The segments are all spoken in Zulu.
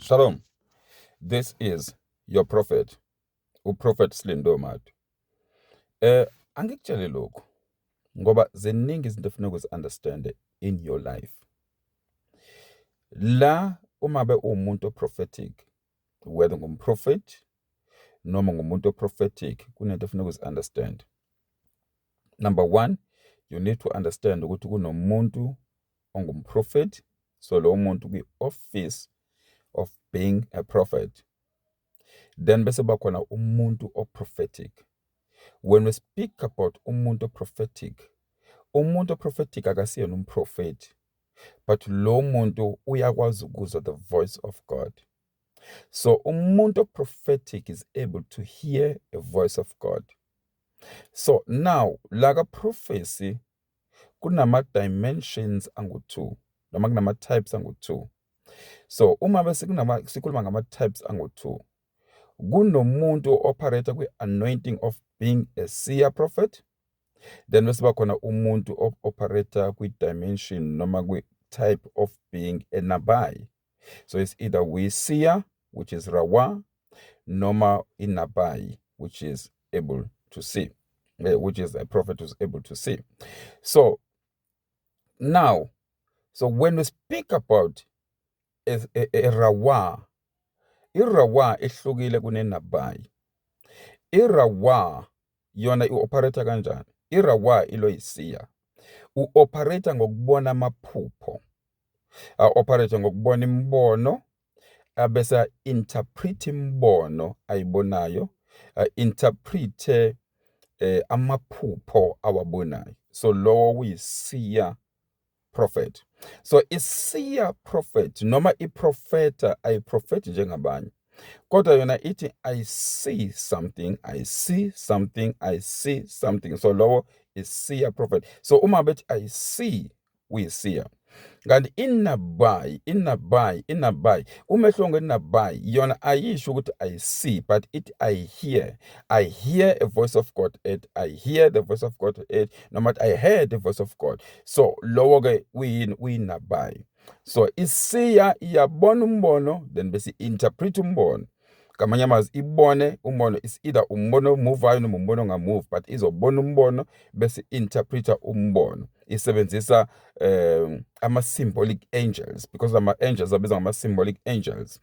Shalom. This is your prophet, uProphet Slindo Madu. Eh angikutshele lokho ngoba ziningi izinto efuna ukuzi-understand in your life. La uma be uwumuntu oprophetic, whether ngumprofethi noma ngumuntu oprophetic, kunento efuna ukuzi-understand. Number one, you need to understand ukuthi kunomuntu ongumprofethi so lowo muntu kwi-office of being a prophet then bese bakhona umuntu oprophetic when we speak about umuntu oprophetic umuntu oprophetic akasiyena umprofethi but lo muntu uyakwazi ukuzwa the voice of god so umuntu oprophetic is able to hear a voice of god so now la ka prophecy kunama-dimensions angu-two noma kunama-types angu-two. So, uma bese sikhuluma ngama-types angu-two, kunomuntu o-operator kwi-anointing of being a seer prophet, then bese kuba khona umuntu o-operator kwi-dimension noma kwi-type of being enabayi. so it's either uyisiya which is rawa noma inabai which is able to see eh, which is a prophet who's able to see so now so when we speak about a, a, a rawa irawa ihlukile kunenabai irawa yona i-operator kanjani irawa iloyisiya u-operator ngokubona amaphupho a-operate ngokubona imibono abese a-interpret imibono ayibonayo a-interprethe eh amaphupho awabonayo so lowo uyisiya prophet so isiya prophet noma iprofeta ayiprofethi njengabanye kodwa yona ithi i see something i see something i see something so lowo isiya prophet so uma bethi i see uyisiya kanti inabai inabai inabai umehluko ngenabai yona ayisho ukuthi i see but it i hear i hear a voice of god it i hear the voice of god it noma i heard the voice of god so lowo ke uyini uyinabai so isiya iyabona umbono then bese interpret umbono ngamanye amazwi ibone umbono is either umbono omuvayo noma umbono ongamuvi but izobona umbono bese interpreter umbono isebenzisa um ama-symbolic angels because ama-angels abizwa ngama-symbolic angels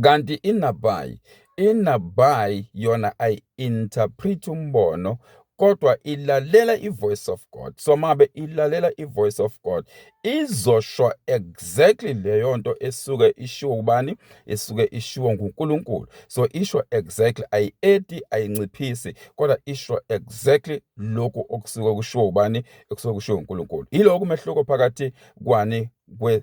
kanti inabayi inabayi yona ayi-interpret umbono kodwa ilalela i-voice of God so mabe ilalela i-voice of God izosho exactly leyo nto esuke ishiwo ubani esuke ishiwo nguNkulunkulu so isho exactly ayi-edi ayinciphisi kodwa isho exactly lokhu okusuke kushiwo ubani ekusuke kushiwo uNkulunkulu yiloko umehluko phakathi kwani kwe